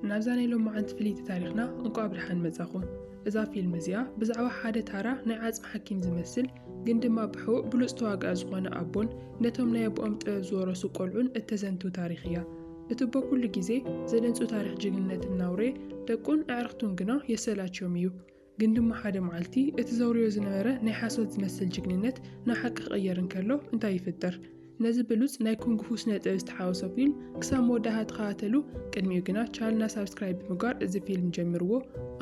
ናብዛ ናይ ሎማዓንቲ ፍልይቲ ታሪኽና እንቋዕ ብድሓን መጻኹም። እዛ ፊልም እዚኣ ብዛዕባ ሓደ ታራ ናይ ዓጽሚ ሓኪም ዝመስል ግን ድማ ብሕቡእ ብሉጽ ተዋጋኢ ዝኾነ ኣቦን ነቶም ናይ ኣቦኦም ጥበብ ዝወረሱ ቆልዑን እተዘንትው ታሪኽ እያ። እቲ እቦ ኩሉ ግዜ ዘደንጹ ታሪኽ ጅግንነት እናውረየ ደቁን ኣዕርኽቱን ግና የሰላችዮም እዩ። ግን ድማ ሓደ መዓልቲ እቲ ዘውርዮ ዝነበረ ናይ ሓሶት ዝመስል ጅግንነት ናብ ሓቂ ክቕየር እንከሎ እንታይ ይፍጠር? ነዚ ብሉጽ ናይ ኩንግፉ ስነ ጥበብ ዝተሓወሶ ፊልም ክሳብ መወዳእታ ተኸታተሉ፣ ቅድሚኡ ግና ቻልና ሳብስክራይብ ብምግባር እዚ ፊልም ጀምርዎ፣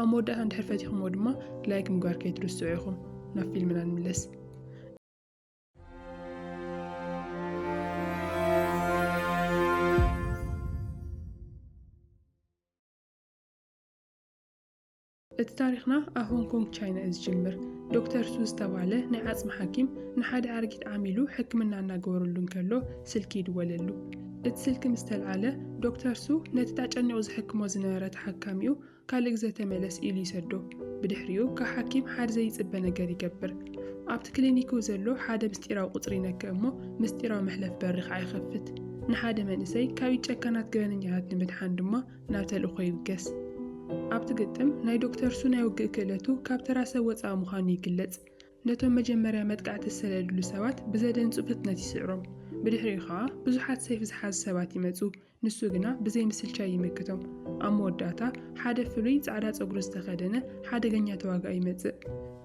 ኣብ መወዳእታ እንድሕር ፈቲኹምዎ ድማ ላይክ ምግባር ከይትርስዑ ኢኹም። ናብ ፊልምና ንምለስ። እቲ ታሪኽና ኣብ ሆንግ ኮንግ ቻይና እዩ ዝጅምር። ዶክተር ሱ ዝተባህለ ናይ ዓጽሚ ሓኪም ንሓደ ኣረጊት ዓሚሉ ሕክምና እናገበረሉ እንከሎ ስልኪ ይድወለሉ። እቲ ስልኪ ምስ ተልዓለ ዶክተር ሱ ነቲ ታጨኒቑ ዝሕክሞ ዝነበረ ተሓካሚኡ ካልእ ግዘ ተመለስ ኢሉ ይሰዶ። ብድሕሪኡ ካብ ሓኪም ሓደ ዘይጽበ ነገር ይገብር። ኣብቲ ክሊኒክኡ ዘሎ ሓደ ምስጢራዊ ቁጽሪ ይነክእ እሞ ምስጢራዊ መሕለፍ በሪ ከኣ ይኸፍት። ንሓደ መንእሰይ ካብ ኢድ ጨካናት ገበነኛታት ንምድሓን ድማ ናብ ተልእኾ ይብገስ። ኣብቲ ግጥም፣ ናይ ዶክተር ሱ ናይ ውግእ ክእለቱ ካብ ተራ ሰብ ወጻኢ ምዃኑ ይግለጽ። ነቶም መጀመርያ መጥቃዕቲ ዝሰደድሉ ሰባት ብዘደንጹ ፍጥነት ይስዕሮም። ብድሕሪኡ ከኣ ብዙሓት ሰይፊ ዝሓዙ ሰባት ይመጹ፣ ንሱ ግና ብዘይ ምስልቻይ ይምክቶም። ኣብ መወዳእታ ሓደ ፍሉይ ጻዕዳ ጸጉሪ ዝተኸደነ ሓደገኛ ተዋጋኢ ይመጽእ።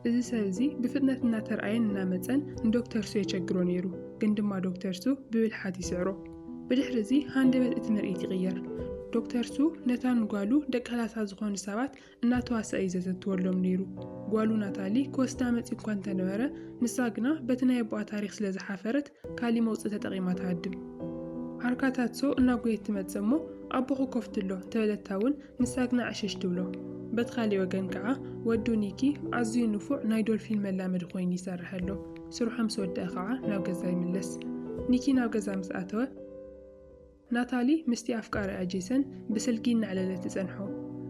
እዚ ሰብ እዚ ብፍጥነት እናተርኣየን እናመጸን ንዶክተር ሱ የቸግሮ ነይሩ፣ ግን ድማ ዶክተር ሱ ብብልሓት ይስዕሮ። ብድሕሪ እዚ ሃንደበት እቲ ምርኢት ይቕየር። ዶክተር ሱ ነታ ንጓሉ ደቂ ከላሳ ዝኾኑ ሰባት እናተዋስኣ እዩ ዘዘንትወሎም ነይሩ። ጓሉ ናታሊ ክወስዳ መጺኡ እኳ እንተነበረ፣ ንሳ ግና በቲ ናይ ኣቦኣ ታሪኽ ስለ ዝሓፈረት ካልእ መውጽኢ ተጠቒማ ትሃድም። ዓርካታት ሶ እናጎየት ትመጽእ እሞ ኣቦኹ ኮፍትሎ እንተበለታ እውን ንሳ ግና ዕሽሽ ትብሎ። በቲ ካልእ ወገን ከኣ ወዱ ኒኪ ኣዝዩ ንፉዕ ናይ ዶልፊን መላመዲ ኮይኑ ይሰርሕ ኣሎ። ስርሑ ምስ ወድኣ ኸኣ ናብ ገዛ ይምለስ። ኒኪ ናብ ገዛ ምስ ኣተወ፣ ናታሊ ምስቲ ኣፍቃሪኣ ጄሰን ብስልኪ እናዕለለት ትጸንሖ።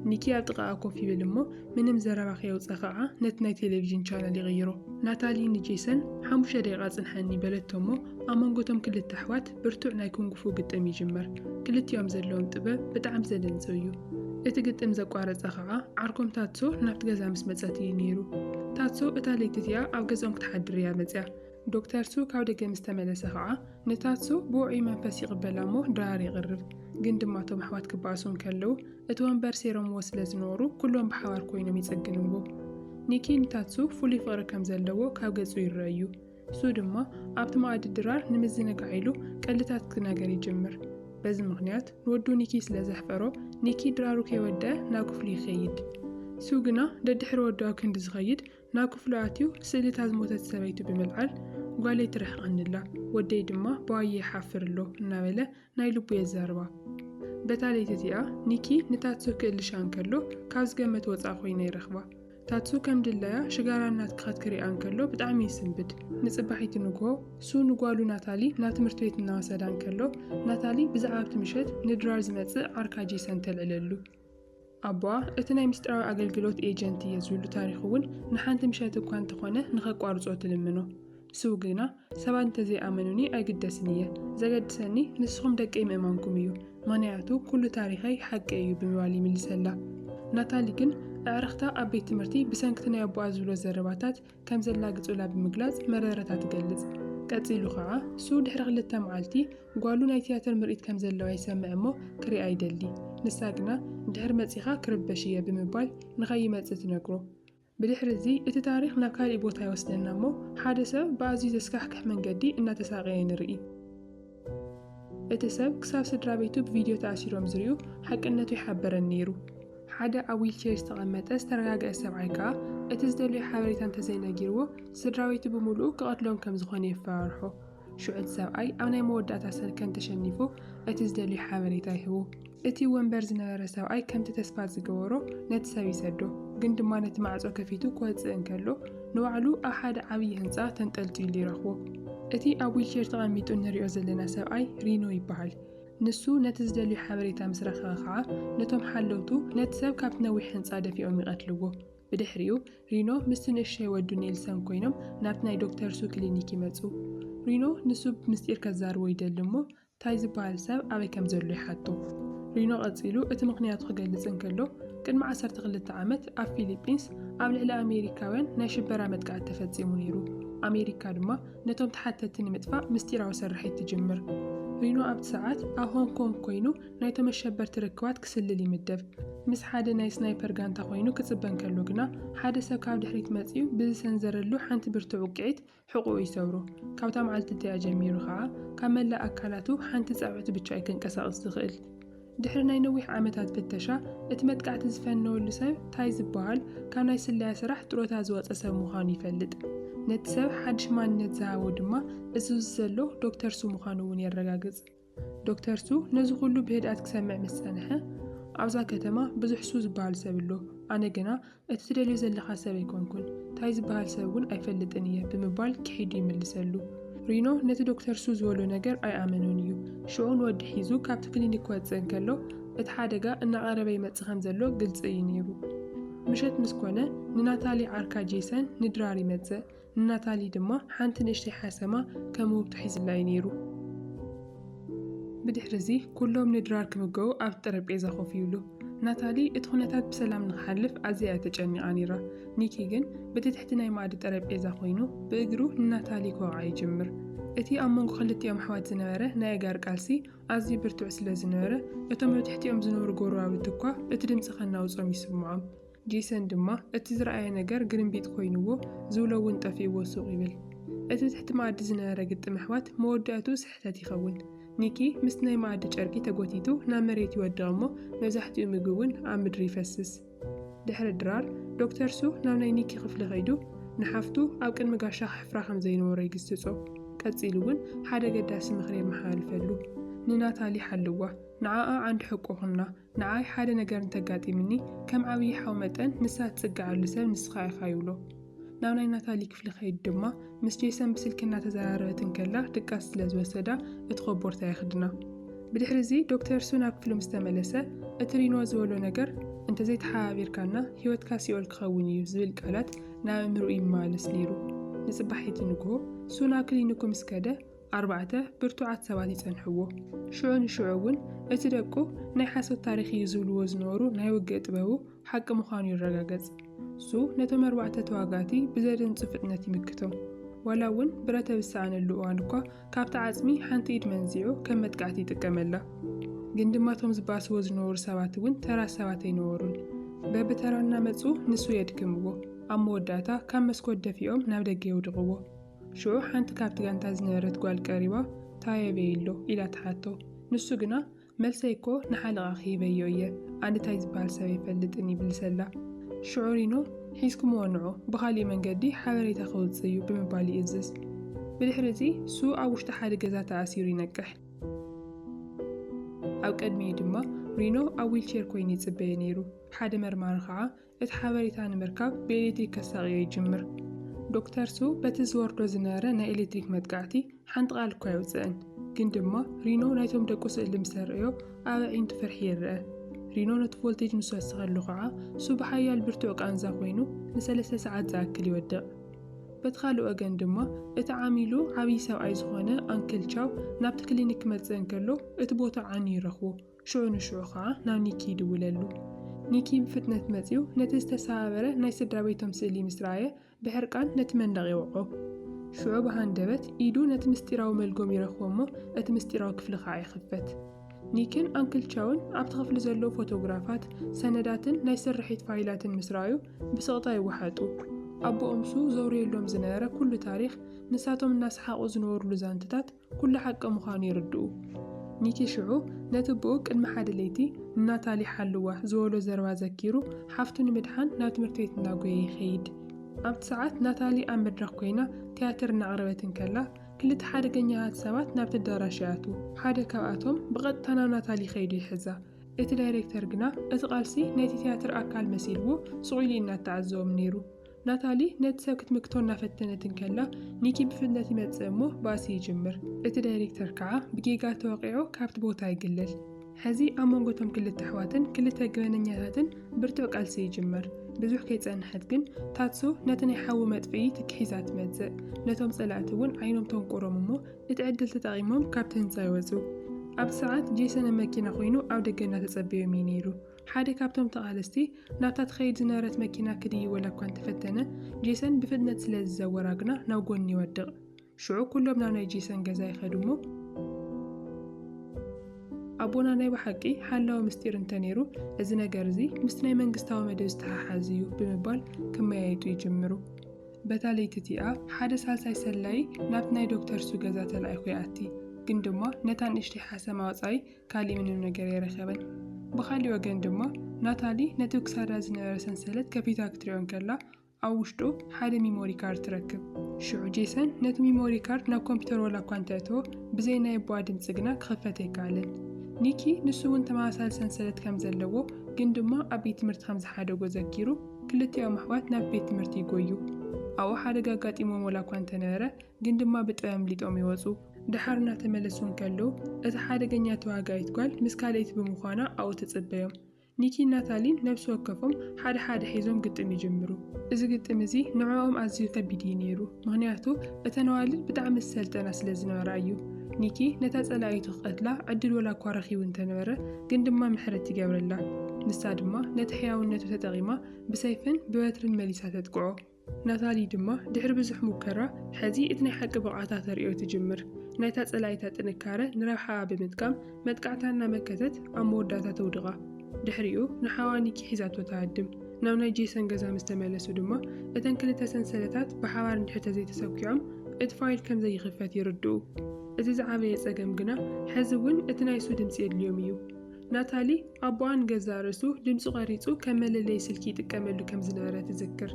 ኒኪ ኣብ ጥቓኣ ኮፍ ይብል እሞ ምንም ዘረባ ከየውጽኣ ኸኣ ነቲ ናይ ቴሌቪዥን ቻነል ይቕይሮ። ናታሊ ንጄሰን ሓሙሽተ ደቂቓ ጽንሓኒ በለቶ እሞ ኣብ መንጎ እቶም ክልተ ኣሕዋት፣ ብርቱዕ ናይ ኩንግፉ ግጥም ይጅመር። ክልቲኦም ዘለዎም ጥበብ ብጣዕሚ ዘደንጽው እዩ። እቲ ግጥም ዘቋረጸ ከኣ ዓርኮም ታትሶ ናብቲ ገዛ ምስ መጸት እዩ ነይሩ። ታትሶ እታ ለይቲ እቲኣ ኣብ ገዝኦም ክትሓድር እያ መጽያ። ዶክተር ሱ ካብ ደገ ምስ ተመለሰ ከኣ ንታትሶ ብውዑይ መንፈስ ይቕበላ እሞ ድራር የቕርብ። ግን ድማ እቶም ኣሕዋት ክበኣሱ እንከለዉ እቲ ወንበር ሴሮምዎ ስለ ዝነበሩ ኩሎም ብሓባር ኮይኖም ይጽግንዎ። ኒኪ ንታትሶ ፍሉይ ፍቕሪ ከም ዘለዎ ካብ ገጹ ይረኣ እዩ። ንሱ ድማ ኣብቲ መኣዲ ድራር ንምዝንጋዕ ኢሉ ቀልድታት ክነገር ይጅምር። በዚ ምኽንያት ንወዱ ኒኪ ስለ ዘሕፈሮ፣ ኒኪ ድራሩ ከይወደኣ ናብ ክፍሉ ይኸይድ። ሱ ግና ደድሕሪ ወዱ ኣብ ክንዲ ዝኸይድ ናብ ክፍሉ ኣትዩ ስእልታት ዝሞተት ሰበይቱ ብምልዓል ጓለይ ትርሕቐኒ'ላ፣ ወደይ ድማ ብዋየ ይሓፍር ኣሎ እናበለ ናይ ልቡ እየ ዝዛረባ በታ ለይቲ እቲኣ ኒኪ ንታትሱ ክእልሻ እንከሎ ካብ ዝገመት ወጻእ ኮይና ይረኽባ ታትሱ ከም ድላያ ሽጋራ እናትከኸት ክሪኣ እንከሎ ብጣዕሚ ይስንብድ ንጽባሒቲ ንግሆ ሱ ንጓሉ ናታሊ ናብ ትምህርቲ ቤት እናወሰዳ እንከሎ ናታሊ ብዛዕባ ኣብቲ ምሸት ንድራር ዝመጽእ ዓርካ ጄሰን ተልዕለሉ ኣቦኣ እቲ ናይ ምስጢራዊ ኣገልግሎት ኤጀንት እየ ዝብሉ ታሪኽ እውን ንሓንቲ ምሸት እኳ እንተኾነ ንኸቋርጾ ትልምኖ። ስው ግና ሰባት እንተዘይኣመኑኒ ኣይግደስን እየ፣ ዘገድሰኒ ንስኹም ደቀይ ምእማንኩም እዩ፣ ምኽንያቱ ኩሉ ታሪኸይ ሓቂ እዩ ብምባል ይምልሰላ። ናታሊ ግን ኣዕርኽታ ኣብ ቤት ትምህርቲ ብሰንኪ'ቲ ናይ ኣቦኣ ዝብሎ ዘረባታት ከም ዘላግጹላ ብምግላጽ መረረታ ትገልጽ። ቀጺሉ ከኣ፣ ሱ ድሕሪ ክልተ መዓልቲ ጓሉ ናይ ትያትር ምርኢት ከም ዘለዋ ይሰምዕ እሞ ክሪኣ ይደሊ። ንሳ ግና ድሕሪ መጺኻ ክርበሽ እየ ብምባል ንኸይመጽእ ትነግሮ። ብድሕሪ እዚ እቲ ታሪኽ ናብ ካሊእ ቦታ ይወስደና እሞ ሓደ ሰብ ብኣዝዩ ዘስካሕክሕ መንገዲ እናተሳቐየ ንርኢ። እቲ ሰብ ክሳብ ስድራቤቱ ብቪድዮ ተኣሲሮም ዝርእዩ ሓቅነቱ ይሓበረኒ ነይሩ። ሓደ ኣብ ዊልቸር ዝተቐመጠ ዝተረጋገኣ ሰብኣይ ከኣ እቲ ዝደልዮ ሓበሬታ እንተዘይነጊርዎ ስድራቤቱ ብምሉኡ ክቐትሎም ከም ዝኾነ የፈራርሖ። ሽዑ እቲ ሰብኣይ ኣብ ናይ መወዳእታ ሰልከን ተሸኒፉ እቲ ዝደልዮ ሓበሬታ ይህቡ። እቲ ወንበር ዝነበረ ሰብኣይ ከምቲ ተስፋ ዝገበሮ ነቲ ሰብ ይሰዶ፣ ግን ድማ ነቲ ማዕጾ ከፊቱ ክወጽእ እንከሎ ንባዕሉ ኣብ ሓደ ዓብዪ ህንጻ ተንጠልጢሉ ይረኽቦ። እቲ ኣብ ዊልቸር ተቐሚጡ እንርእዮ ዘለና ሰብኣይ ሪኖ ይበሃል። ንሱ ነቲ ዝደልዮ ሓበሬታ ምስ ረኸበ ኸኣ ነቶም ሓለውቱ ነቲ ሰብ ካብቲ ነዊሕ ህንጻ ደፊኦም ይቐትልዎ። ብድሕሪኡ ሪኖ ምስቲ ንእሽቶይ ወዱ ኔልሰን ኰይኖም ናብቲ ናይ ዶክተር ሱ ክሊኒክ ይመጹ። ሪኖ ንሱ ብምስጢር ከዛርቦ ይደሊ እሞ ታይ ዝበሃል ሰብ ኣበይ ከም ዘሎ ይሓቱ። ሪኖ ቀጺሉ እቲ ምኽንያቱ ክገልጽ እንከሎ፣ ቅድሚ ዓሰርተ ክልተ ዓመት ኣብ ፊሊጲንስ ኣብ ልዕሊ ኣሜሪካውያን ናይ ሽበራ መጥቃዕቲ ተፈጺሙ ነይሩ። ኣሜሪካ ድማ ነቶም ተሓተቲ ንምጥፋእ ምስጢራዊ ስርሒት ትጅምር። ሪኖ ኣብቲ ሰዓት ኣብ ሆንግ ኮንግ ኰይኑ ናይቶም ኣሸበርቲ ርክባት ክስልል ይምደብ። ምስ ሓደ ናይ ስናይፐር ጋንታ ኰይኑ ክጽበ እንከሎ ግና፣ ሓደ ሰብ ካብ ድሕሪት መጺኡ ብዝሰንዘረሉ ሓንቲ ብርቱዕ ውቅዒት፣ ሕቖኡ ይሰብሮ። ካብታ መዓልቲ እቲኣ ጀሚሩ ከኣ ካብ መላእ ኣካላቱ ሓንቲ ጻብዕቲ ብቻ እዩ ከንቀሳቕስ ዝኽእል። ድሕሪ ናይ ነዊሕ ዓመታት ፍተሻ፣ እቲ መጥቃዕቲ ዝፈነወሉ ሰብ ታይ ዝበሃል ካብ ናይ ስለያ ስራሕ ጥሮታ ዝወጸ ሰብ ምዃኑ ይፈልጥ። ነቲ ሰብ ሓድሽ ማንነት ዝሃቦ ድማ እዙዚ ዘሎ ዶክተር ሱ ምዃኑ እውን የረጋግጽ። ዶክተር ሱ ነዚ ኹሉ ብህድኣት ክሰምዕ ምስ ጸንሐ፣ ኣብዛ ከተማ ብዙሕ ሱ ዝበሃል ሰብ ኣሎ፣ ኣነ ግና እቲ ትደልዮ ዘለኻ ሰብ ኣይኮንኩን፣ ታይ ዝበሃል ሰብ እውን ኣይፈልጥን እየ ብምባል ክሒዱ ይምልሰሉ። ሪኖ ነቲ ዶክተር ሱ ዝበሎ ነገር ኣይኣመኖን እዩ። ሽዑ ንወዲ ሒዙ ካብቲ ክሊኒክ ክወጽእ እንከሎ፣ እቲ ሓደጋ እናቐረበ ይመጽእ ከም ዘሎ ግልጺ እዩ ነይሩ። ምሸት ምስ ኮነ፣ ንናታሊ ዓርካ ጄሰን ንድራር ይመጽእ። ንናታሊ ድማ ሓንቲ ንእሽተይ ሓሰማ ከም ውህብቶ ሒዝላ'ዩ ነይሩ። ብድሕሪ'ዚ ኵሎም ንድራር ክምገቡ ኣብቲ ጠረጴዛ ኮፍ ይብሉ። ናታሊ እቲ ዅነታት ብሰላም ንኽሓልፍ ኣዝያ'ያ ተጨኒቓ ነይራ። ኒኪ ግን በቲ ትሕቲ ናይ መኣዲ ጠረጴዛ ኰይኑ ብእግሩ ንናታሊ ክወቕዓ ይጅምር። እቲ ኣብ መንጎ ክልቲኦም ኣሕዋት ዝነበረ ናይ ኣእጋር ቃልሲ ኣዝዩ ብርቱዕ ስለ ዝነበረ እቶም ኣብ ትሕቲኦም ዝነብሩ ጐረባብቲ'ኳ እቲ ድምጺ ከናውጾም ይስምዖም። ጄሰን ድማ፣ እቲ ዝረኣየ ነገር ግርምቢጥ ኮይኑዎ፣ ዝብሎ እውን ጠፊኡዎ ሱቕ ይብል። እቲ ትሕቲ መኣዲ ዝነበረ ግጥም ኣሕዋት መወዳእትኡ ስሕተት ይኸውን። ኒኪ ምስቲ ናይ መኣዲ ጨርቂ ተጎቲቱ ናብ መሬት ይወድቕ እሞ መብዛሕትኡ ምግቢ እውን ኣብ ምድሪ ይፈስስ። ድሕሪ ድራር፣ ዶክተር ሱ ናብ ናይ ኒኪ ክፍሊ ከይዱ ንሓፍቱ ኣብ ቅድሚ ጋሻ ከሕፍራ ከም ዘይነበሮ ይግስጾ። ቀጺሉ እውን ሓደ ኣገዳሲ ምኽሪ የመሓላልፈሉ፣ ንናታሊ ሓልዋ፣ ንዓኣ ዓንዲ ሕቆ ኩና፣ ንዓይ ሓደ ነገር እንተጋጢምኒ፣ ከም ዓብዪ ሓው መጠን ንሳ እትጽግዓሉ ሰብ ንስኻ ኢኻ ይብሎ። ናብ ናይ ናታሊ ክፍሊ ከይዱ ድማ ምስ ጄሰን ብስልኪ እናተዘራረበት እንከላ ድቃስ ስለ ዝወሰዳ እቲ ኮቦርታ የኽድና። ብድሕሪ'ዚ ዶክተር ሱ ናብ ክፍሉ ምስ ተመለሰ እቲ ሪኖ ዝበሎ ነገር እንተዘይተሓባቢርካና ህይወትካ ሲኦል ክኸውን እዩ ዝብል ቃላት ናብ ኣእምርኡ ይመላለስ ነይሩ። ንጽባሒቲ ንግሆ ሱ ናብ ክሊኒኩ ምስ ከደ፣ ኣርባዕተ ብርቱዓት ሰባት ይጸንሕዎ። ሽዑ ንሽዑ እውን እቲ ደቁ ናይ ሓሶት ታሪኽ እዩ ዝብልዎ ዝነበሩ ናይ ውግእ ጥበቡ ሓቂ ምዃኑ ይረጋገጽ። እሱ ነቶም ኣርባዕተ ተዋጋእቲ ብዘደንጹ ፍጥነት ይምክቶም። ዋላ እውን ብረተ ብዝሰኣነሉ እዋን እኳ ካብቲ ዓጽሚ ሓንቲ ኢድ መንዚዑ ከም መጥቃዕቲ ይጥቀመላ። ግን ድማ እቶም ዝባስዎ ዝነበሩ ሰባት እውን ተራ ሰባት ኣይነበሩን። በብተራ እናመጹ ንሱ የድክምዎ። ኣብ መወዳእታ ካብ መስኮት ደፊኦም ናብ ደገ የውድቕዎ። ሽዑ ሓንቲ ካብቲ ጋንታ ዝነበረት ጓል ቀሪባ፣ ታይ ኣበይ'ሎ? ኢላ ትሓቶ። ንሱ ግና፣ መልሰይ እኮ ንሓለቓ ክሂበዮ እየ፣ ኣነ ታይ ዝበሃል ሰብ ኣይፈልጥን ይብልሰላ። ሽዑ ሪኖ፣ ሒዝኩምዎ ንዑ፣ ብኻሊእ መንገዲ ሓበሬታ ክውፅእ እዩ ብምባል ይእዝዝ። ብድሕሪ እዚ ሱ ኣብ ውሽጢ ሓደ ገዛ ተኣሲሩ ይነቅሕ። ኣብ ቅድሚኡ ድማ ሪኖ ኣብ ዊልቼር ኮይኑ ይፅበዮ ነይሩ። ሓደ መርማሪ ከዓ፣ እቲ ሓበሬታ ንምርካብ ብኤሌክትሪክ ከሳቕዮ ይጅምር። ዶክተር ሱ በቲ ዝወርዶ ዝነበረ ናይ ኤሌክትሪክ መጥቃዕቲ ሓንቲ ቃል እኳ ኣይውጽእን፣ ግን ድማ ሪኖ ናይቶም ደቁ ስእሊ ምስ ኣርእዮ ኣብ ኣዒንቱ ፍርሒ ይርኣ። ሪኖ ነቲ ቮልቴጅ ምስ ወሰኸሉ ኸኣ ሱ ብሓያል ብርቱዕ ቃንዛ ኮይኑ ንሰለስተ ሰዓት ዝኣክል ይወድቕ። በቲ ካልእ ወገን ድማ እቲ ዓሚሉ ዓብዪ ሰብኣይ ዝኾነ ኣንክል ቻው ናብቲ ክሊኒክ ክመጽእ እንከሎ እቲ ቦታ ዓንዩ ይረኽቦ። ሽዑ ንሽዑ ከኣ ናብ ኒኪ ይድውለሉ። ኒኪ ብፍጥነት መጺኡ ነቲ ዝተሰባበረ ናይ ስድራ ቤቶም ስእሊ ምስ ረኣየ ብሕርቃን ነቲ መንደቕ የወቕዖ። ሽዑ ብሃንደበት ኢዱ ነቲ ምስጢራዊ መልጎም ይረኽቦ እሞ እቲ ምስጢራዊ ክፍሊ ከኣ ይኽፈት። ኒኪን ኣንክል ቻውን ኣብቲ ክፍሊ ዘለዉ ፎቶግራፋት፣ ሰነዳትን ናይ ስርሒት ፋይላትን ምስ ረኣዩ ብስቕታ ይወሓጡ። ኣቦኦምሱ ዘውርየሎም ዝነበረ ኩሉ ታሪኽ፣ ንሳቶም እናሰሓቑ ዝነበሩሉ ዛንትታት፣ ኩሉ ሓቂ ምዃኑ ይርድኡ። ኒኪ ሽዑ ነቲ ኣቦኡ ቅድሚ ሓደ ለይቲ ንናታሊ ሓልዋ ዝበሎ ዘረባ ዘኪሩ ሓፍቱ ንምድሓን ናብ ትምህርቲ ቤት እናጎየ ይኸይድ። ኣብቲ ሰዓት ናታሊ ኣብ መድረኽ ኮይና ትያትር እናቕረበት እንከላ ክልተ ሓደገኛታት ሰባት ናብቲ ኣዳራሽ ይኣትዉ። ሓደ ካብኣቶም ብቐጥታ ናብ ናታሊ ከይዱ ይሕዛ። እቲ ዳይሬክተር ግና እቲ ቃልሲ ናይቲ ትያትር ኣካል መሲልዎ ሱቕ ኢሉ እዩ እናተዓዘቦም ነይሩ። ናታሊ ነቲ ሰብ ክትምክቶ እናፈተነት እንከላ፣ ኒኪ ብፍጥነት ይመጽእ እሞ ባእሲ ይጅምር። እቲ ዳይሬክተር ከኣ ብጌጋ ተወቒዑ ካብቲ ቦታ ይግልል። ሕዚ ኣብ መንጎ እቶም ክልተ ኣሕዋትን ክልተ ገበነኛታትን ብርቱዕ ቃልሲ ይጅምር። ብዙሕ ከይጸንሐት ግን ታትሱ ነቲ ናይ ሓዊ መጥፍኢ ትኪ ሒዛ ትመጽእ። ነቶም ጸላእቲ እውን ዓይኖም ተንቁሮም እሞ እቲ ዕድል ተጠቒሞም ካብቲ ህንጻ ይወጹ። ኣብቲ ሰዓት ጄሰን ኣብ መኪና ኮይኑ ኣብ ደገ እናተጸበዮም እዩ ነይሩ። ሓደ ካብቶም ተቓለስቲ ናብታ ትኸይድ ዝነበረት መኪና ክድይበላ እኳ እንተፈተነ፣ ጄሰን ብፍጥነት ስለ ዝዘወራ ግና ናብ ጐኒ ይወድቕ። ሽዑ ኵሎም ናብ ናይ ጄሰን ገዛ ይኸዱ እሞ፣ ኣቦና ናይ ብሓቂ ሓላዊ ምስጢር እንተ ነይሩ፣ እዚ ነገር እዚ ምስቲ ናይ መንግስታዊ መደብ ዝተሓሓዝ እዩ ብምባል ክመያየጡ ይጅምሩ። በታ ለይቲ እቲኣ ሓደ ሳልሳይ ሰላዪ ናብቲ ናይ ዶክተር ሱ ገዛ ተላኢኹ ይኣቲ፣ ግን ድማ ነታ ንእሽተይ ሓሰማ ወጻኢ ካሊእ ምንም ነገር ኣይረኸበን። ብኻሊእ ወገን ድማ ናታሊ ነቲ ክሳዳ ዝነበረ ሰንሰለት ከፊታ ክትሪኦ እንከላ ኣብ ውሽጡ ሓደ ሚሞሪ ካርድ ትረክብ። ሽዑ ጄሰን ነቲ ሚሞሪ ካርድ ናብ ኮምፒተር ዋላ እኳ እንተእተዎ ብዘይ ናይ ኣቦኣ ድምፂ ግና ክኽፈት ኣይከኣለን። ኒኪ ንሱ እውን ተመሳሳሊ ሰንሰለት ከም ዘለዎ ግን ድማ ኣብ ቤት ትምህርቲ ከም ዝሓደጎ ዘኪሩ ክልቲኦም ኣሕዋት ናብ ቤት ትምህርቲ ይጎዩ። ኣብኡ ሓደጋ ኣጋጢሞም ዋላ እኳ እንተነበረ ግን ድማ ብጥበብ ኣምሊጦም ይወፁ። ደሓር እናተመለሱ እንከለዉ፣ እታ ሓደገኛ ተዋጋኢት ጓል ምስ ካልኣይቲ ብምዃና ኣብኡ ትጽበዮም። ኒኪን ናታሊን ነብሲ ወከፎም ሓደ ሓደ ሒዞም ግጥም ይጅምሩ። እዚ ግጥም እዚ ንዕኦም ኣዝዩ ከቢድ እዩ ነይሩ፣ ምኽንያቱ እተን ኣዋልድ ብጣዕሚ ዝሰልጠና ስለ ዝነበራ እዩ። ኒኪ ነታ ጸላኢቱ ክቐትላ ዕድል ወላ እኳ ረኺቡ እንተነበረ፣ ግን ድማ ምሕረት ይገብረላ። ንሳ ድማ ነቲ ሕያውነቱ ተጠቒማ ብሰይፍን ብበትርን መሊሳ ተጥቅዖ። ናታሊ ድማ ድሕሪ ብዙሕ ሙከራ ሕዚ እቲ ናይ ሓቂ ብቕዓታ ተርእዮ ትጅምር። ናይታ ጸላኢታ ጥንካረ ንረብሓኣ ብምጥቃም መጥቃዕታ እናመከተት ኣብ መወዳእታ ተውድቓ። ድሕሪኡ ንሓዋ ኒኪ ሒዛቶ ትሃድም። ናብ ናይ ጄሰን ገዛ ምስ ተመለሱ ድማ እተን ክልተ ሰንሰለታት ብሓባር እንድሕር ተዘይተሰኲዖም እቲ ፋይል ከም ዘይኽፈት ይርድኡ። እቲ ዝዓበየ ጸገም ግና ሕዚ እውን እቲ ናይ እሱ ድምጺ የድልዮም እዩ። ናታሊ፣ ኣቦኣ ንገዛእ ርእሱ ድምጹ ቐሪጹ ከም መለለዪ ስልኪ ይጥቀመሉ ከም ዝነበረ ትዝክር።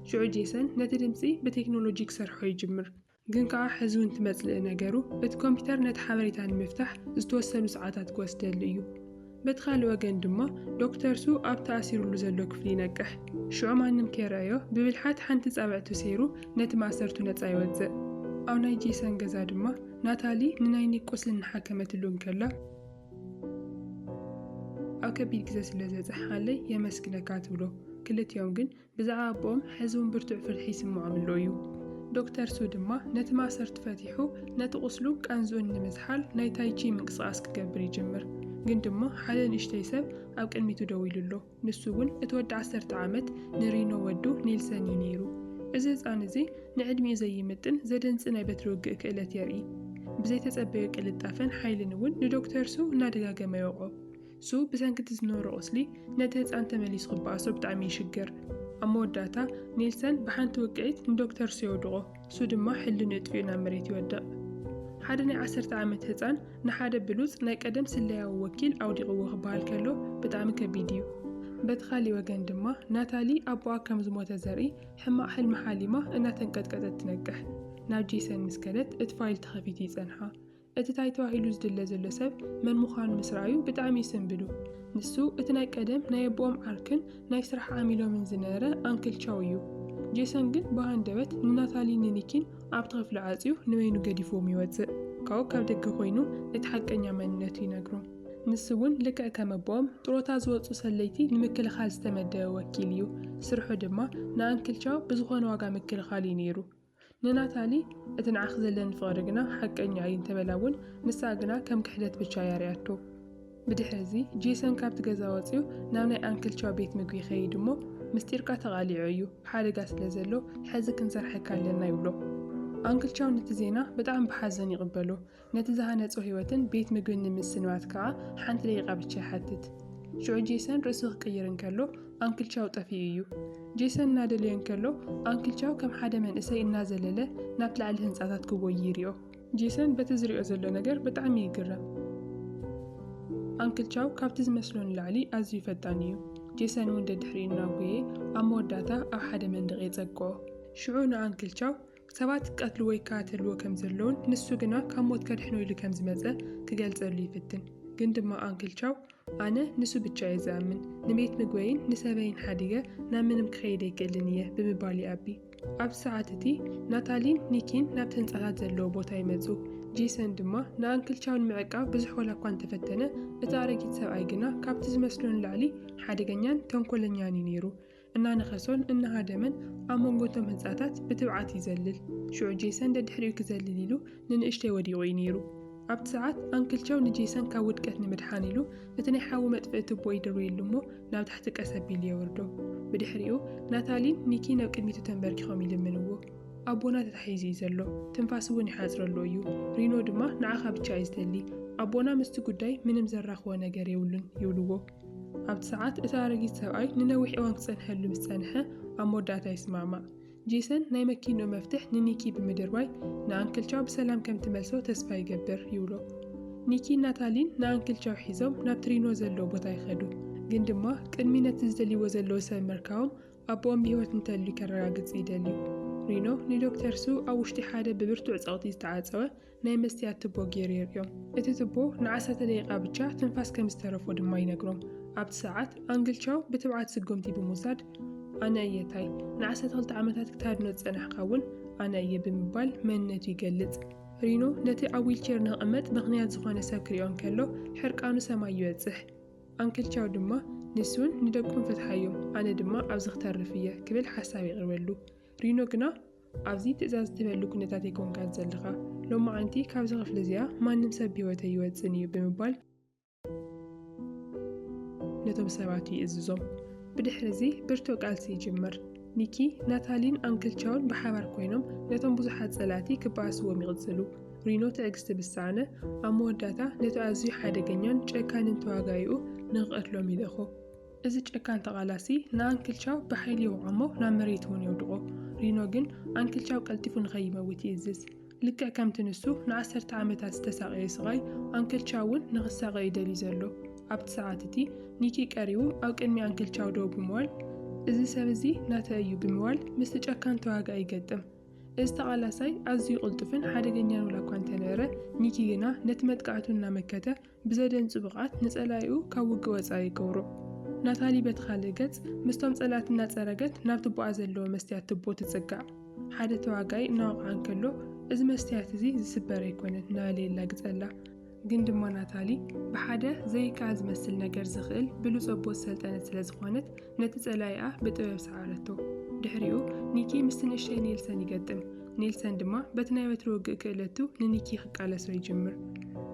ሽዑ ጄሰን ነቲ ድምጺ ብቴክኖሎጂ ክሰርሖ ይጅምር። ግን ከኣ ሕዝውን ትመጽልኢ ነገሩ፣ እቲ ኮምፒተር ነቲ ሓበሬታ ንምፍታሕ ዝተወሰኑ ሰዓታት ክወስደሉ እዩ። በቲ ካልእ ወገን ድማ ዶክተር ሱ ኣብ ተኣሲሩሉ ዘሎ ክፍሊ ይነቅሕ። ሽዑ ማንም ከይረኣዮ ብብልሓት ሓንቲ ጻብዕቱ ሰይሩ ነቲ ማእሰርቱ ነጻ ይወጽእ። ኣብ ናይ ጄሰን ገዛ ድማ ናታሊ ንናይ ኒክ ቁስሊ እናሓከመትሉ እንከላ፣ ኣብ ከቢድ ግዘ ስለ ዘብፀሕኻለይ የመስግነካ ትብሎ። ክልቲኦም ግን ብዛዕባ ኣቦኦም ሕዚ እውን ብርቱዕ ፍርሒ ይስምዖም ኣሎ እዩ። ዶክተር ሱ ድማ ነቲ ማእሰርቲ ፈቲሑ ነቲ ቁስሉ ቃንዝኡን ንምዝሓል ናይ ታይ ቺ ምንቅስቓስ ክገብር ይጅምር። ግን ድማ ሓደ ንእሽተይ ሰብ ኣብ ቅድሚቱ ደው ኢሉ ኣሎ። ንሱ እውን እቲ ወዲ ዓሰርተ ዓመት ንሪኖ ወዱ ኔልሰን እዩ ነይሩ። እዚ ህጻን እዚ ንዕድሚኡ ዘይምጥን ዘደንጽ ናይ በትሪ ውግእ ክእለት የርኢ። ብዘይተጸበዮ ቅልጣፈን ሓይልን እውን ንዶክተር ሱ እናደጋገመ ይወቕዖ። ሱ ብሰንኪ እቲ ዝነበሮ ቁስሊ ነቲ ህጻን ተመሊሱ ክበኣሶ ብጣዕሚ ይሽገር። ኣብ መወዳእታ ኔልሰን ብሓንቲ ውቅዒት ንዶክተር ሱ የውድቖ። ንሱ ድማ ሕልንኡ የጥፊኡ ናብ መሬት ይወድቕ። ሓደ ናይ ዓሰርተ ዓመት ህጻን ንሓደ ብሉጽ ናይ ቀደም ስለያዊ ወኪል ኣውዲቕዎ ክበሃል ከሎ ብጣዕሚ ከቢድ እዩ። በቲ ካሊእ ወገን ድማ ናታሊ ኣቦኣ ከም ዝሞተ ዘርኢ ሕማቕ ሕልሚ ሓሊማ እናተንቀጥቀጠት ትነቅሕ። ናብ ጄሰን ምስ ከደት እቲ ፋይል ተኸፊቱ ይጸንሓ። እቲ ታይ ተባሂሉ ዝድለ ዘሎ ሰብ መን ምዃኑ ምስ ረኣዩ ብጣዕሚ ይስንብዱ። ንሱ እቲ ናይ ቀደም ናይ ኣቦኦም ዓርክን ናይ ስራሕ ዓሚሎምን ዝነረ ኣንክል ቻው እዩ። ጄሰን ግን ብሃንደበት ንናታሊን ንኒኪን ኣብቲ ክፍሊ ዓፅዩ ንበይኑ ገዲፍዎም ይወፅእ። ካብኡ ካብ ደገ ኮይኑ እቲ ሓቀኛ መንነቱ ይነግሮም። ንሱ እውን ልክዕ ከም ኣቦኦም ጥሮታ ዝወፁ ሰለይቲ ንምክልኻል ዝተመደበ ወኪል እዩ። ስርሑ ድማ ንኣንክል ቻው ብዝኾነ ዋጋ ምክልኻል እዩ ነይሩ። ንናታሊ እቲ ንዓኺ ዘለኒ ፍቕሪ ግና ሓቀኛ እዩ እንተ በላ እውን፣ ንሳ ግና ከም ክሕደት ብቻ እያ ርእያቶ። ብድሕሪ እዚ፣ ጄሰን ካብቲ ገዛ ወጺኡ ናብ ናይ ኣንክል ቻው ቤት ምግቢ ይኸይድ እሞ፣ ምስጢርካ ተቓሊዑ እዩ፣ ሓደጋ ስለ ዘሎ፣ ሕዚ ክንሰርሓካ ኣለና ይብሎ። ኣንክል ቻው ነቲ ዜና ብጣዕሚ ብሓዘን ይቕበሎ። ነቲ ዝሃነጾ ህይወትን ቤት ምግብን ንምስንባት ከኣ ሓንቲ ደቂቃ ብቻ ይሓትት። ሽዑ ጄሰን ርእሱ ክቅይር እንከሎ ኣንክል ቻው ጠፊኡ እዩ። ጄሰን እናደለዮ እንከሎ ኣንክል ቻው ከም ሓደ መንእሰይ እናዘለለ ናብ ላዕሊ ህንጻታት ክጎዪ ይሪኦ። ጄሰን በቲ ዝሪኦ ዘሎ ነገር ብጣዕሚ ይግረም። ኣንክል ቻው ካብቲ ዝመስሎ ንላዕሊ ኣዝዩ ፈጣን እዩ። ጄሰን እውን ደድሕሪኡ እናጎየ ኣብ መወዳእታ ኣብ ሓደ መንደቅ የጸግኦ። ሽዑ ንኣንክል ቻው ሰባት ክቀትልዎ ይከታተልዎ ከም ዘለዉን ንሱ ግና ካብ ሞት ከድሕኖ ኢሉ ከም ዝመጸ ክገልጸሉ ይፍትን። ግን ድማ ኣንክል ቻው ኣነ ንሱ ብቻ እየ ዝኣምን፣ ንቤት ምግበይን ንሰበይን ሓዲገ ናብ ምንም ክኸይድ ኣይክእልን እየ ብምባል ይኣቢ። ኣብዚ ሰዓት እቲ ናታሊን ኒኪን ናብቲ ህንጻታት ዘለዎ ቦታ ይመጹ። ጄሰን ድማ ንኣንክል ቻው ንምዕቃብ ብዙሕ ዋላ እኳ እንተፈተነ እቲ ኣረጊት ሰብኣይ ግና ካብቲ ዝመስሎ ንላዕሊ ሓደገኛን ተንኮለኛን እዩ ነይሩ። እናነኸሶን እናሃደመን ኣብ መንጎ እቶም ህንጻታት ብትብዓት ይዘልል። ሽዑ ጄሰን ደድሕሪኡ ክዘልል ኢሉ ንንእሽተይ ወዲቑ እዩ ነይሩ። ኣብቲ ሰዓት ኣንክል ቸው ንጄሰን ካብ ውድቀት ንምድሓን ኢሉ እቲ ናይ ሓዊ መጥፍኢ ቱቦ ይድርብየሉ እሞ ናብ ታሕቲ ቀስ ኣቢሉ የውርዶ። ብድሕሪኡ ናታሊን ኒኪ ናብ ቅድሚቱ ተንበርኪኾም ይልምንዎ። ኣቦና ተታሒዙ እዩ ዘሎ፣ ትንፋስ እውን ይሓጽረሉ እዩ። ሪኖ ድማ ንዓኻ ብቻ እዩ ዝደሊ፣ ኣቦና ምስቲ ጉዳይ ምንም ዘራኽቦ ነገር የብሉን ይብልዎ። ኣብቲ ሰዓት እቲ ኣረጊት ሰብኣይ ንነዊሕ እዋን ክጸንሐሉ ምስ ጸንሐ፣ ኣብ መወዳእታ ይስማዕማዕ። ጄሰን ናይ መኪንኡ መፍትሕ ንኒኪ ብምድርባይ ንኣንክል ቻው ብሰላም ከም ትመልሶ ተስፋ ይገብር ይብሎ። ኒኪን ናታሊን ንኣንክል ቻው ሒዞም ናብቲ ሪኖ ዘለዎ ቦታ ይኸዱ፣ ግን ድማ ቅድሚ ነቲ ዝደልይዎ ዘለዉ ሰብ ምርካቦም ኣቦኦም ብህይወት እንተልዩ ከረጋግጽ ይደልዩ። ሪኖ ንዶክተር ሱ ኣብ ውሽጢ ሓደ ብብርቱዕ ጸቕጢ ዝተዓጸወ ናይ መስትያት ትቦ ገይሩ የርእዮም። እቲ ትቦ ንዓሰርተ ደቂቓ ብቻ ትንፋስ ከም ዝተረፎ ድማ ይነግሮም። ኣብቲ ሰዓት፣ ኣንግል ቻው ብትብዓት ስጉምቲ ብምውሳድ፣ ኣነ እየ ታይ፣ ንዓሰርተ ክልተ ዓመታት ክታድኖ ዝጸናሕካ እውን ኣነ እየ ብምባል መንነቱ ይገልጽ። ሪኖ ነቲ ኣብ ዊልቸር ንክቕመጥ ምኽንያት ዝኾነ ሰብ ክሪኦ እንከሎ ሕርቃኑ ሰማይ ይበጽሕ። ኣንክል ቻው ድማ ንሱን ንደቁን ፍትሓዮም፣ ኣነ ድማ ኣብዚ ክተርፍ እየ ክብል ሓሳብ የቕርበሉ። ሪኖ ግና ኣብዚ ትእዛዝ እትህበሉ ኩነታት ኣይኮንካን ዘለኻ። ሎማዓንቲ ካብዚ ክፍሊ እዚኣ ማንም ሰብ ብህይወት ኣይወጽእን እዩ ብምባል ነቶም ሰባት ይእዝዞም። ብድሕሪ እዚ ብርቱዕ ቃልሲ ይጅምር። ኒኪ፣ ናታሊን ኣንክል ቻውን ብሓባር ኮይኖም ነቶም ብዙሓት ጸላእቲ ክበኣስዎም ይቕጽሉ። ሪኖ ትዕግስቲ ምስ ሰኣነ፣ ኣብ መወዳእታ ነቲ ኣዝዩ ሓደገኛን ጨካንን ተዋጋኢኡ ንኽቐትሎም ይልእኾ። እዚ ጨካን ተቓላሲ ንኣንክልቻው ብሓይሊ ይውዓሞ ናብ መሬት እውን የውድቖ። ሪኖ ግን ኣንክልቻው ቀልጢፉ ንኸይመውት ይእዝዝ። ልክዕ ከምቲ ንሱ ንዓሰርተ ዓመታት ዝተሳቐዮ ስቓይ፣ ኣንክልቻው እውን ንኽሳቐ እዩ ደልዩ ዘሎ። ኣብቲ ሰዓት እቲ፣ ኒኪ ቀሪቡ ኣብ ቅድሚ ኣንክልቻው ደው ብምባል፣ እዚ ሰብ እዚ ናተይ እዩ ብምባል ምስቲ ጨካን ተዋጋኢ ይገጥም። እዚ ተቓላሳይ ኣዝዩ ቅልጡፍን ሓደገኛን ዋላ'ኳ እንተነበረ፣ ኒኪ ግና ነቲ መጥቃዕቱ እናመከተ፣ ብዘደንጹ ብቕዓት ንጸላኢኡ ካብ ውግእ ወጻኢ ይገብሮ። ናታሊ በቲ ካልእ ገጽ፣ ምስቶም ጸላእቲ እናጸረገት ናብ ትቦኣ ዘለዎ መስትያት ትቦ ትጽጋዕ። ሓደ ተዋጋኢ እናወቕዓ እንከሎ፣ እዚ መስትያት እዚ ዝስበር ኣይኰነን እናበለ የላግጸላ። ግን ድማ ናታሊ ብሓደ ዘይከኣል ዝመስል ነገር ዝኽእል ብሉጽ ኣቦ ዝሰልጠነት ስለ ዝዀነት፣ ነቲ ጸላኢኣ ብጥበብ ሰዓረቶ። ድሕሪኡ፣ ኒኪ ምስቲ ንእሽተይ ኔልሰን ይገጥም። ኔልሰን ድማ በቲ ናይ ወትሩ ውግእ ክእለቱ ንኒኪ ክቃለሶ ይጅምር።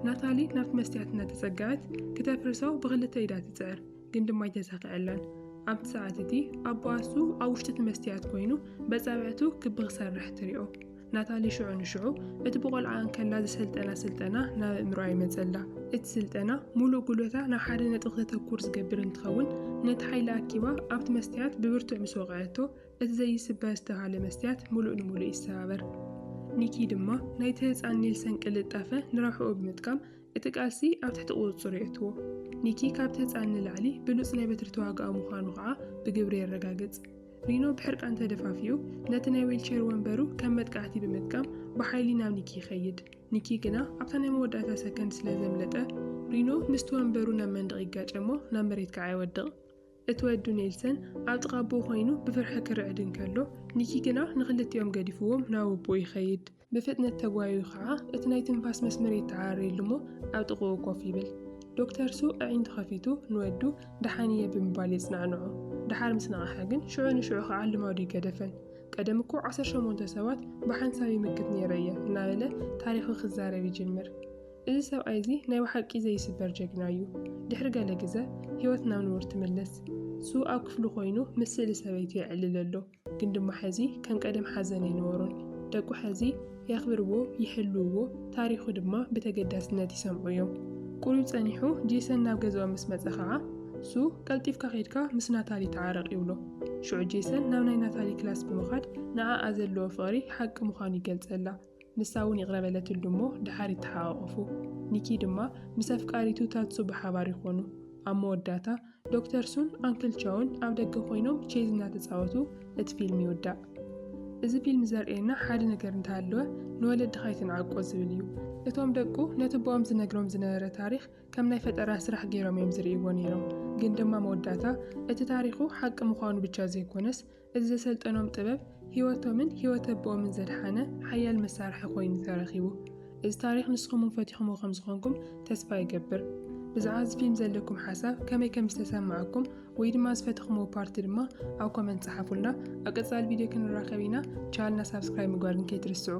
ናታሊ ናብቲ መስትያት እናተጸግዐት ክተፍርሶ ብኽልተ ኢዳ ትጽዕር፣ ግን ድማ ኣይተሳኽዐላን። ኣብቲ ሰዓት እቲ ኣቦኣ እሱ ኣብ ውሽጢ እቲ መስትያት ኮይኑ በጻብዕቱ ክቢ ክሰርሕ ትሪኦ። ናታሊ ሽዑ ንሽዑ እቲ ብቆልዓ እንከላ ዝሰልጠና ስልጠና ናብ ኣእምሮኣ ይመጸላ። እቲ ስልጠና ሙሉእ ጉልበታ ናብ ሓደ ነጥቢ ክተተኩር ዝገብር እንትኸውን ነቲ ሓይሊ ኣኪባ ኣብቲ መስትያት ብብርቱዕ ምስ ወቕዐቶ እቲ ዘይስበር ዝተብሃለ መስትያት ምሉእ ንምሉእ ይሰባበር። ኒኪ ድማ ናይቲ ህጻን ኔልሰን ቅልጣፈ ንረብሕኡ ብምጥቃም እቲ ቃልሲ ኣብ ትሕቲ ቁጽጽሩ የእትዎ። ኒኪ ካብቲ ህጻን ንላዕሊ ብሉጽ ናይ በትሪ ተዋጋኢ ምዃኑ ከኣ ብግብሪ የረጋግጽ። ሪኖ ብሕርቃን ተደፋፊኡ ነቲ ናይ ዊልቸር ወንበሩ ከም መጥቃዕቲ ብምጥቃም ብሓይሊ ናብ ኒኪ ይኸይድ። ኒኪ ግና ኣብታ ናይ መወዳእታ ሰከንድ ስለ ዘምለጠ ሪኖ ምስቲ ወንበሩ ናብ መንደቕ ይጋጨ'ሞ ናብ መሬት ከኣ ይወድቕ። እቲ ወዱ ኔልሰን ኣብ ጥቓ ኣቦኡ ዀይኑ ብፍርሒ ክርዕድ እንከሎ፣ ኒኪ ግና ንኽልቲኦም ገዲፍዎም ናብ ኣቦኡ ይኸይድ። ብፍጥነት ተጓይዩ ኸኣ እቲ ናይ ትንፋስ መስመር የተዓርየሉ እሞ ኣብ ጥቓኡ ኮፍ ይብል። ዶክተር ሱ ኣዒንቱ ኸፊቱ ንወዱ ደሓን እየ ብምባል የጽናዕንዖ። ደሓር ምስ ነቕሐ ግን ሽዑ ንሽዑ ኸኣ ልማዱ ይገደፈን። ቀደም እኮ ዓሰርተ ሸሞንተ ሰባት ብሓንሳብ ይምክት ነይረ እየ እናበለ ታሪኹ ክዛረብ ይጅምር። እዚ ሰብኣይ እዚ ናይ ብሓቂ ዘይስበር ጀግና እዩ ድሕሪ ገለ ግዘ ሂወት ናብ ንቡር ትምለስ ሱ ኣብ ክፍሉ ኮይኑ ምስ ስእሊ ሰበይቱ የዕልል ኣሎ ግን ድማ ሐዚ ከም ቀደም ሓዘን ኣይነበሮን ደቁ ሐዚ የኽብርዎ ይሕልውዎ ታሪኹ ድማ ብተገዳስነት ይሰምዑ እዮም ቁሩብ ፀኒሑ ጄሰን ናብ ገዝኦም ምስ መፀ ከዓ ሱ ቀልጢፍካ ከይድካ ምስ ናታሊ ተዓረቅ ይብሎ ሽዑ ጄሰን ናብ ናይ ናታሊ ክላስ ብምኻድ ንዓኣ ዘለዎ ፍቅሪ ሓቂ ምዃኑ ይገልፀላ ንሳ እውን ይቕረ በለትሉ እሞ ደሓር ይተሓቛቖፉ። ኒኪ ድማ ምስ ኣፍቃሪቱ ታትሱ ብሓባር ይኾኑ። ኣብ መወዳእታ፣ ዶክተር ሱን ኣንክል ቻውን ኣብ ደገ ኮይኖም ቼዝ እናተጻወቱ እቲ ፊልም ይውዳእ። እዚ ፊልም ዘርእየና ሓደ ነገር እንተሃለወ ንወለድኻ ኣይትንዓቆ ዝብል እዩ። እቶም ደቁ ነቲ ኣቦኦም ዝነግሮም ዝነበረ ታሪኽ ከም ናይ ፈጠራ ስራሕ ገይሮም እዮም ዝርእይዎ ነይሮም፣ ግን ድማ መወዳእታ እቲ ታሪኹ ሓቂ ምዃኑ ብቻ ዘይኮነስ እዚ ዘሰልጠኖም ጥበብ ህይወቶምን ህይወት ኣቦኦምን ዘድሓነ ሓያል መሳርሒ ኮይኑ ተረኺቡ። እዚ ታሪኽ ንስኹም እውን ፈቲኹምዎ ከም ዝኾንኩም ተስፋ ይገብር። ብዛዕባ እዚ ፊልም ዘለኩም ሓሳብ ከመይ ከም ዝተሰማዓኩም ወይ ድማ ዝፈተኽምዎ ፓርቲ ድማ ኣብ ኮመንት ጸሓፉልና። ኣብ ቀጻሊ ቪድዮ ክንራኸብ ኢና። ቻልና ሳብስክራይብ ምግባር ግን ከይትርስዑ።